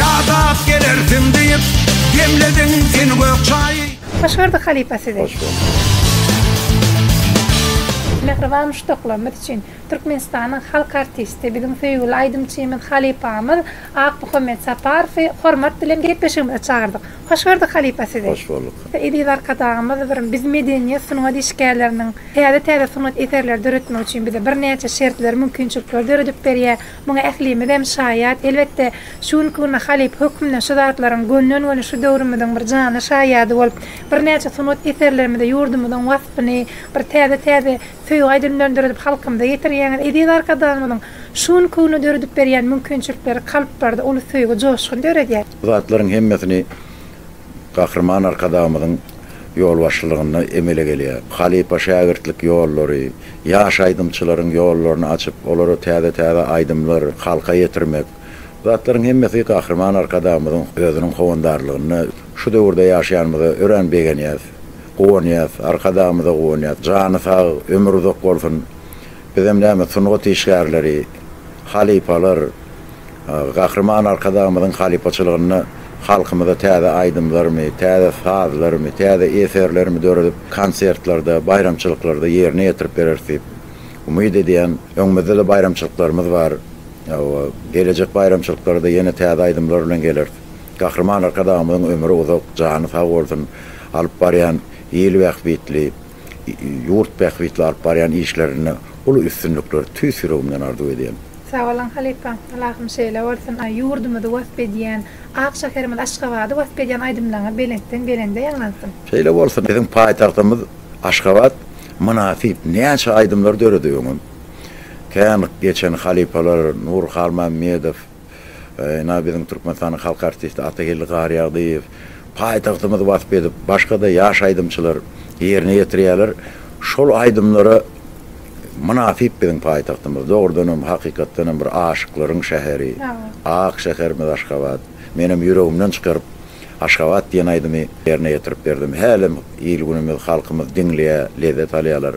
Ýadap gelersiň diýip, demlediň sen gök çaýy. Hoş gördük halypa sizi. Hoş gördük. Mähriban muşdaklarymyz üçin Türkmenistanyň halk artisti, biziň söýgüli aýdymçymyz, halypamyz Akmuhammet Saparowy hormat bilen gepleşigimize çagyrdyk. Hoş gördük halypa sizi. Hoş bolduk. Eziz Arkadagymyz bir biz medeniýet sungat işgärleriniň täze täze sungat eserleri döretmek üçin bize bir näçe şertleri mümkinçilikleri döredip berýär. Muňa ählimizem şaýat. Elbetde şu günki günde halypa hökmünde şu zatlaryň gönden göni şu döwrümiziň bir janly şaýady bolup bir näçe sungat eserlerimizi ýurdumyzyň waspyny bir täze täze söýgi aýdym bilen döredip halkymyza ýetirýäňiz. Eziz Arkadagymyzyň şu günki günde döredip berýän mümkinçilikleri kalplarda uly söýgi joşgun döredýär. Bu zatlaryň hemmesini Gahryman Arkadagymyzyň ýolbaşçylygynda emele gelýär. Halypa-şägirtlik ýollary, ýaş aýdymçylaryň ýollaryny açyp, olara täze-täze aýdymlar, halka ýetirmek. Bu zatlaryň hemmesi Gahryman Arkadagymyzyň özüniň howandarlygynda şu döwürde ýaşaýanymyza örän begenýäs, guwanýas. Arkadagymyza guwanýas. Jany sag, ömri uzak bolsun. Bizem näme, sungat işgärleri, halypalar. Gahryman Arkadagymyzyň halypaçylygynda halkymyza täze aýdymlarymy, täze sazlarymy, täze eserlerimi döredip, konsertlerde, baýramçylyklarda ýerine ýetirip bereris diýip umyt edýän. Öňümizde-de baýramçylyklarymyz bar. Hawa, gelejek baýramçylyklara-da ýene täze aýdymlar bilen geleris. Gahryman Arkadagymyzyň ömri uzak, jany sag bolsun, alyp barýan il bähbitli, Ýurt bähbitli alyp barýan işlerinde uly üstünlikler tüýs ýüregimden arzuw edýän. Sagboluň halypa. Ylahyň şeýle bolsun. Aý ýurdumyzy wasp edýän, ak şäherimiz Aşgabady wasp edýän aýdymlaryňyz belentden belende ýaňlansyn. Şeýle bolsun. Biziň paýtagtymyz Aşgabat mynasyp näçe aýdymlar dörediň. Kän geçen halypalar Nur Halmämmedow. Ynha, biziň Türkmenistanyň halk artisti Atageldi Garýagdyýew paýtagtymyzy wasp edip, başga-da ýaş aýdymçylar ýerine ýetirýärler. Şol aýdymlara mynasyp biziň paýtagtymyz. Dogrudan hem, hakykatdan hem bir aşyklaryň şäheri, ak şäherimiz Aşgabat. Men hem ýüregimden çykaryp, Aşgabat diýen aýdymy ýerine ýetirip berdim. Hälem il-günümiz, halkymyz diňleýär, lezzet alýarlar.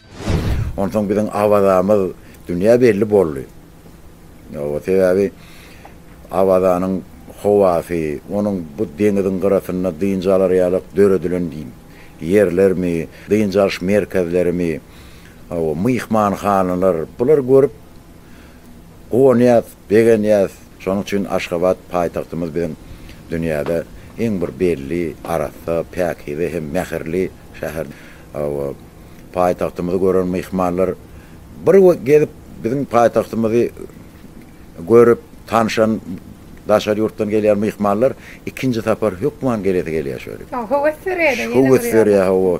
Onsoň biziň Awazamyz dünýä belli boldy. Hawa, sebäbi Awazanyň howasy, onuň bu deňiziň gyrasynda dynç alar ýalyk döredilen ýerlermi, dynç alyş merkezlerimi, hawa, myhmanhanalar, bulary görüp guwanýas, begenýäs. Şonuň üçin Aşgabat paýtagtymyz biziň dünýäde iň bir belli, arassa, päkize hem mähirli şäher. Hawa. paýtagtymyzy gören myhmanlar bir gezip biziň paýtagtymyzy görüp tanşan daşary ýurtdan gelýän myhmanlar ikinji sapar hökman gelesi gelýär şöyle. Soň höwes dörýär-de ýene Höwes dörýär hawa.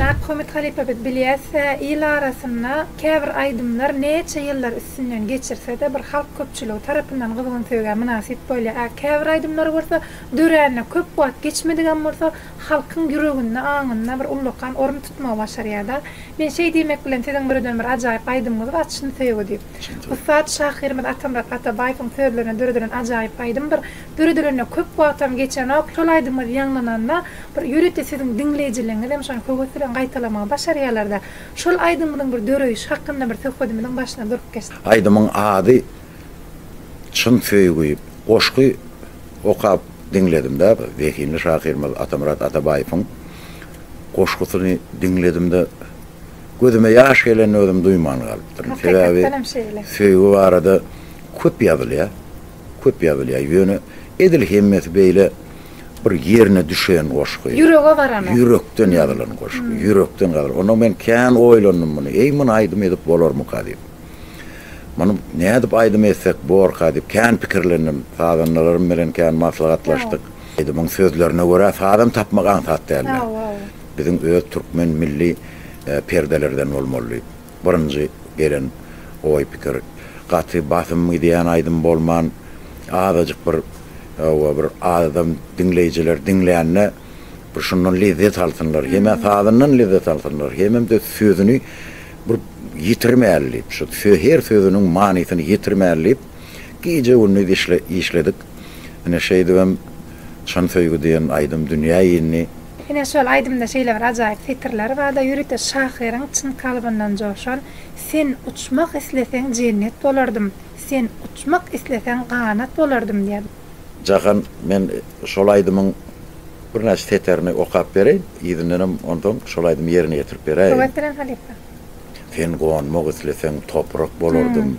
Maghomet halypa biz bilýäs-ä, il arasynda käbir aýdymlar näçe ýyllar üstünden geçirse-de, bir halk köpçüligi tarapyndan gyzgyn söýgä mynasyp bolýar. Ä, käbir aýdymlary bolsa, döränine köp wagt geçmedigem bolsa, halkyň ýüreginde, aňynda bir ullakan orun tutmagy başarýar-da. Men şeý diýmek bilen, siziň birden-bir ajaýyp aýdymyňyz bar, Çyn söýgi diýip. Ussat şahyrymyz Atamyrat Atabaýewiň sözlerine döredilen ajaýyp aýdym bir Döredilenine köp wagtam geçenok, şol aýdymyňyz ýaňlananda bir ýörite siziň diňleýjileriňiz hem şony höwes bilen gaýtalamagy başarýarlarda. Şol aýdymyňyzyň bir döreýşi hakynda bir söhbedimiziň başynda durup geçdik. Aýdymyň ady Çyn söýgi. Goşgy okap diňledimde, zehinli şahyrymyz Atamyrat Atabaýewiň goşgusyny diňledimde, gözüme ýaş gelenini özüm duýman galypdyryn. Sebäbi söýgi barada köp ýazylýar. Köp ýazylýar ýöne edil hemmesi beýle bir ýerine düşen goşgy. Ýürege baranok. Ýürekden ýazylan goşgy. Ýürekden gazyl. Onda men kän oýlandym muny. Eý muny aýdym edip bolarmyka diýip. Muny nädip aýdym etsek borka diýip kän pikirlendim. Sazandalarym bilen kän maslahatlaşdyk. Aýdymyň sözlerine görä sazam tapmak aňsat däldi. Biziň öz türkmen milli perdelerden bolmaly diýip. Birinji gelen oý-pikir, gaty basym gidýän aýdym bolman, azajyk bir, hawa, bir adam, diňleýjiler diňlände bir şundan lezzet alsynlar, hem-ä sazyndan lezzet alsynlar, hemem-de sözüni bir ýitirmäli diýip, şu her sözüniň manysyny ýitirmäli diýip, gije-gündiz işledik. Ine, şeýdibem Çyn söýgi diýen aýdym dünýä indi. Ine, şol aýdymda şeýle bir ajaýyp setirler bar-da, ýörite şahyryň çyn kalbyndan joşan, Sen uçmak isleseň jennet bolardym, Sen uçmak isleseň ganat bolardym diýýän. Jahan, men şol aýdymyň birnäçe seterini okap bereýin, yzyndanam onsoň şol aýdymy ýerine ýetirip beräýiň. Höwes bilen halypa. Sen gonmak isleseň toprak bolardym.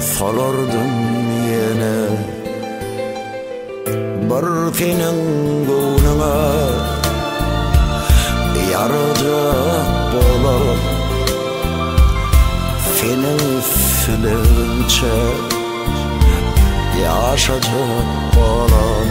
Salardym ýene bir seniň göwnüňe Ýarajak bolup Seniň üstüňçe Ýaşajak bolup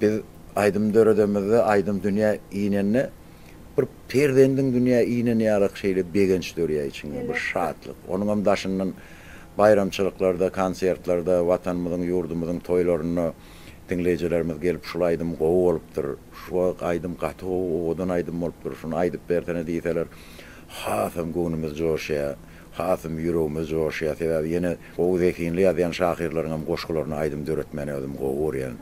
Biz aýdym döredemizde, aýdym dünýä inende, bir perzendiň dünýä ineni ýalak şeýle begenç dörýär içiňde, bir şatlyk. Onuň hem daşyndan baýramçylyklarda, konsertlerde, Watanymyzyň, ýurdumyzyň toýlarynda diňleýjilerimiz gelip, şul aýdym gowy bolupdyr, şu aýdym gaty gowy, owadan aýdym bolupdyr, şuny aýdyp bersene diýseler, hasam göwnümiz joşýar. Hasam ýüregime joşýar, sebäbi ýene gowy zehinli ýazýan şahyrlaryňam goşgularyna aýdym döretmäni özüm gowy görýän.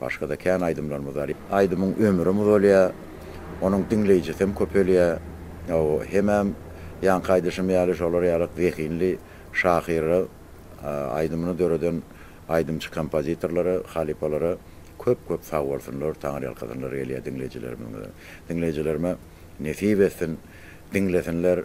Başga-da kän aýdymlarymyz bar. Aýdymyň ömrüm uzalýar, onuň diňleýjisem köpelýär. Hawa, hemem ýaňky aýdyşym ýaly şolar ýaly zehinli şahyra, aýdymyny döreden aýdymçy kompozitorlara, halypalara köp-köp sag bolsunlar, taňyrýalkasynlar gelýär diňleýjilerimiziň. Diňleýjilerime nesip etsin, diňlesinler.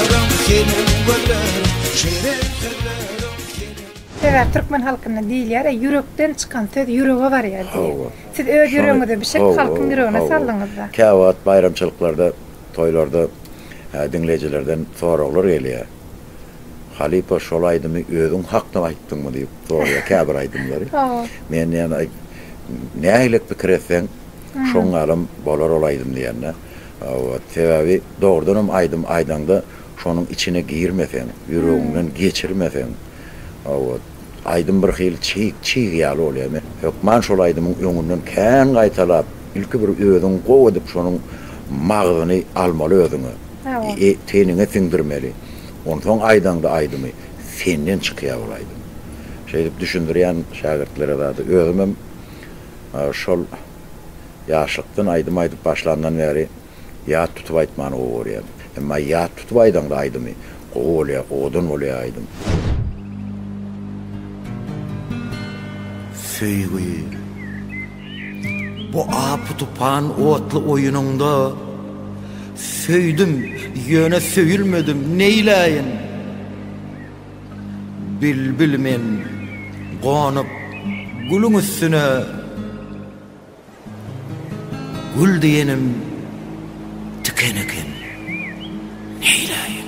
Sebäp türkmen halkynda diýilýär ýa ýürekden çykan söz ýürege barýar diýip. Siz öz ýüregiňize bişirip halkyň ýüregine saldyňyzda. Käwagt baýramçylyklarda, toýlarda diňleýjilerden soraglar gelýär. Halypa şol aýdymy özüň hakdan aýtdyňmy diýip soraýar käbir aýdymlary. Men diýen nähili pikir etseň şoň ýalam bolar ol aýdym diýende. Hawa, sebäbi dogrudan hem aýdym aýdaňda şonuň içine girmeseň, ýüregiňden geçirmeseň, hawa, aýdym bir hili çig, çig ýaly bolýar. Men hökman şol aýdymyň öňünden kän gaýtalap, ilki bir özüň gowy edip şonuň magzyny almaly özüňe. Hawa. E, teniňe siňdirmeli. Onsoň aýdaňda aýdymy, senden çykýar ol aýdym. Şeýdip düşündirýän şägirtlere zady. Özüm hem şol Ýaşlykdan aýdym aýdyp başlandan bäri ýat tutup aýtmany gowy görýän. Emma ýat tutup aýdaňda aýdymy gowy bolýar, owadan bolýar aýdym. Söýgi. Bu apy-tupan otly oýunyňda Söýdüm, ýöne söýülmedim, neýläýin? Bilbil men gonup gülüň üstüne Gül diýenim tiken eken, neýläýin?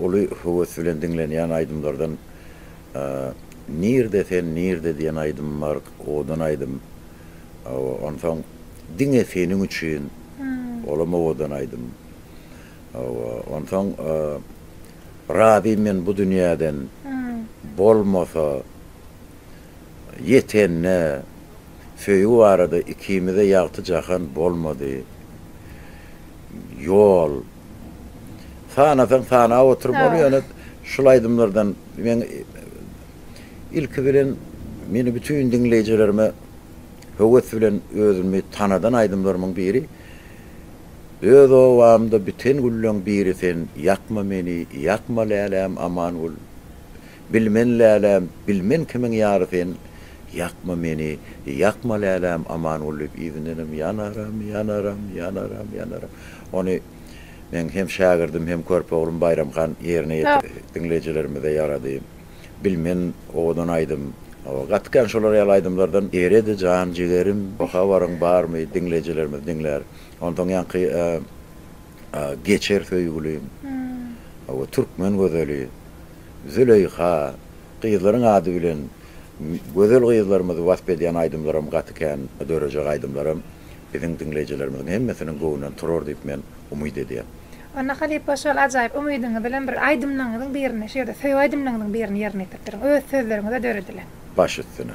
uly höwes bilen diňlenýän aýdymlardan Nirde sen nirde diýen aýdymym bar, owadan aýdym. Onsoň Diňe seniň üçin, olam owadan aýdym. Onsoň Razym men bu dünýäden, bolmasa Ýetende, Söýgi barada ikimize ýagty jahan bolmady, Ýol. Sanasaň sanap oturyp ol ýöne şul aýdymlardan men ilki bilen meni bütin diňleýjilerime höwes bilen özümi tanadan aýdymlarymyň biri Öz obamda biten gülleň biri sen Ýakma meni ýakma läläm aman bol Bilmen läläm bilmen kimiň ýary sen Ýakma meni ýakma läläm aman bol diýip yzyndanam Ýanaram ýanaram ýanaram ýanaram Ony meň hem şägirdim hem körpe oglum Baýram han ýerine ýetirdi. Diňleýjilerimize ýarady. Bilmen owadan aýdym. Hawa gaty kän şolar ýaly aýdymlardan eredi jan jigerim habaryň barmy diňleýjilerimiz diňlär. Onsoň ýaňky Geçer söýgülim. Hawa türkmen gözeli Züleýha gyzlaryň ady bilen gözel gyzlarymyzy wasp edýän aýdymlaram gaty kän dörejek aýdymlaram Biziň diňleýjilerimiziň hemmesiniň göwnünden turar diýip men umyt edýän. Onda halypa şol ajaýyp umydyňyz bilen bir aýdymlaňyzyň birini şu ýerde söýgi aýdymlaňyzyň birini ýerine ýetirip beriň. Öz sözleriňizde döredilen. Baş üstüne.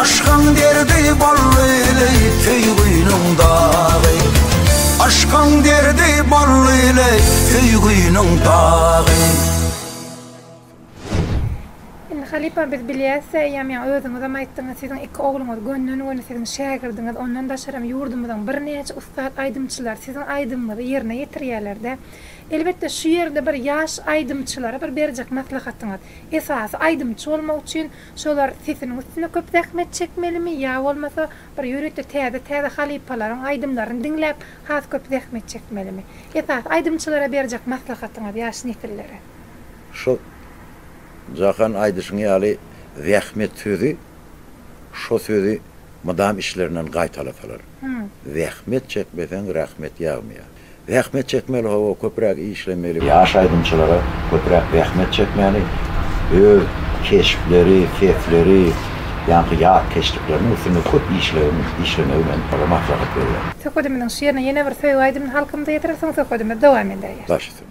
Aşkyň derdi bollyly söýgüniň dagy Aşkyň derdi bollyly söýgüniň dagy Indi halypa biz bilýäs eýýäm ýa özüňizem aýtdyňyz siziň iki ogluňyz gönden göni siziň şägirdiňiz ondan daşaram ýurdumyzyň birnäçe ussat aýdymçylar siziň aýdymyňyzy ýerine ýetirýälerde elbetde şu ýerde bir ýaş aýdymçylara bir berjek maslahatyňyz esasy aýdymçy bolmak üçin Şolar sesiniň üstüne köp zähmet çekmelimi ýa bolmasa bir ýörite täze täze halypalaryň aýdymlaryny diňläp has köp zähmet çekmelimi? Esasy aýdymçylara berjek maslahatyňyz ýaş nesillere? Şu Jahan aýdyşyň ýaly zähmet sözi şo sözi mydam içlerinden gaýtalasalar. Zähmet çekmeseň rahmet ýagmaýar. Zähmet çekmeli hawa köpräk işlemeli. Ýaş aýdymçylara köpräk zähmet çekmäli öz keşpleri, sesleri ýaňky ýatkeşlikleriniň üstünde köp işlegi işlemegi men ola maslahat berýän. Söhbedimiziň şirine ýene bir söýgi aýdymyny halkymyza ýetirersiň söhbedimiz dowam edäýer. Başysy.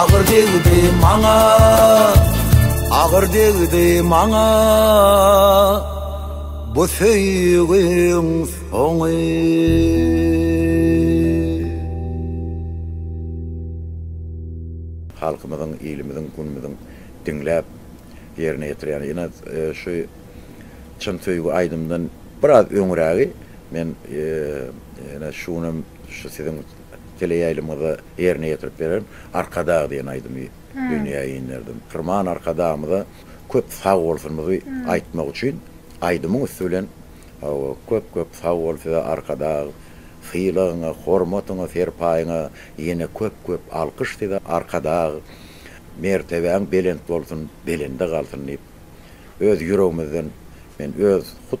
Agyr degdi maňa Agyr degdi maňa Bu söýgüň soňy halkymyzyň, ilimiziň, günümiziň diňläp ýerine ýetirýän ýene e, şu çyn söýgi aýdymdan biraz öňrägi men e, ýene şuny şu siziň Teleýaýlymyzda ýerine ýetirip bererin. Arkadag diýen aýdymy dünýä inderdim. Firman Arkadagymyza köp sag bolsunyzy aýtmak üçin aýdymyň üsti bilen Hawa, köp köp sag bol size Arkadag! Sylagyňa, hormatyňa, serpaýyňa ýene köp köp alkyş size Arkadag! Mertebäň belent bolsun, belende galsyn diýip öz ýüregimizden men öz hut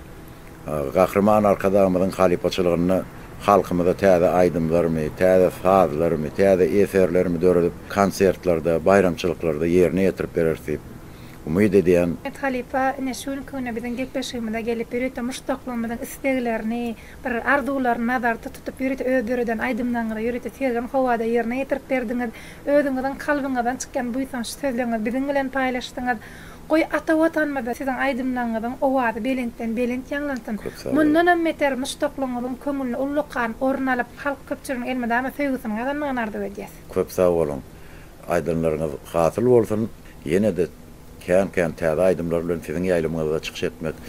Gahryman Arkadagymyzyň halypaçylygynda halkymyza täze aýdymlarmy, täze sazlarmy, täze eserlermi döredip, konsertlerde, baýramçylyklarda ýerine ýetirip bereris diýip umyt edýän. Mehmet halypa ine şu günki güne biziň gepleşigimize gelip, ýörite muşdaklygymyzyň isleglerini, bir arzuwlaryny nazarda tutup, ýörite öz döreden aýdymlaryňyzy ýörite sergin howada ýerine ýetirip berdiňiz. Özüňiziň kalbyňyzdan çykýan buýsançly sözleriňizi biziň bilen paýlaşdyňyz. Goý ata watanymyzda siziň aýdymlaňňyzyň owazy belentden belent ýaňlansyn. Köp sag boluň. Mundanam beter muşdaklygyňyzyň köňülni ullakan orun alyp halk köpçüliginiň elmydama söýgüsini gazanmagyny arzuw edýäs. Köp sag boluň. Aýdymlaryňyz hasyl bolsun. Ýene-de kän-kän täze aýdymlar bilen siziň ýaýlymyňyzda çykyş etmek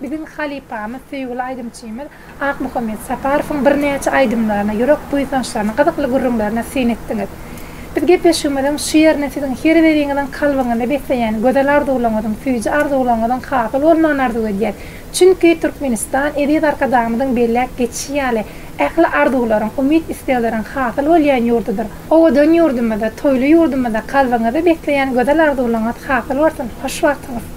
Biziň halypamyz, söýgüli aýdymçymyz Akmuhammet Saparowyň birnäçe aýdymlaryny, ýürek buýsançlaryny, gyzykly gürrüňlerini syn etdiňiz. Biz gepleşigimiziň şu ýerine siziň her biriňiziň kalbyňyzy besleýän gözel arzuwlaryňyzyň, süýji arzuwlaryňyzyň hasyl bolmagyny arzuw edýäs. Çünki Türkmenistan, eziz Arkadagymyzyň belläp geçişi ýaly, ähli arzuwlaryň, umyt-islegleriň hasyl bolýan ýurdudyr. Owadan ýurdumyzda, toýly ýurdumyzda kalbyňyzy besleýän gözel arzuwlaryňyz hasyl bolsun! Hoş wagtyňyz!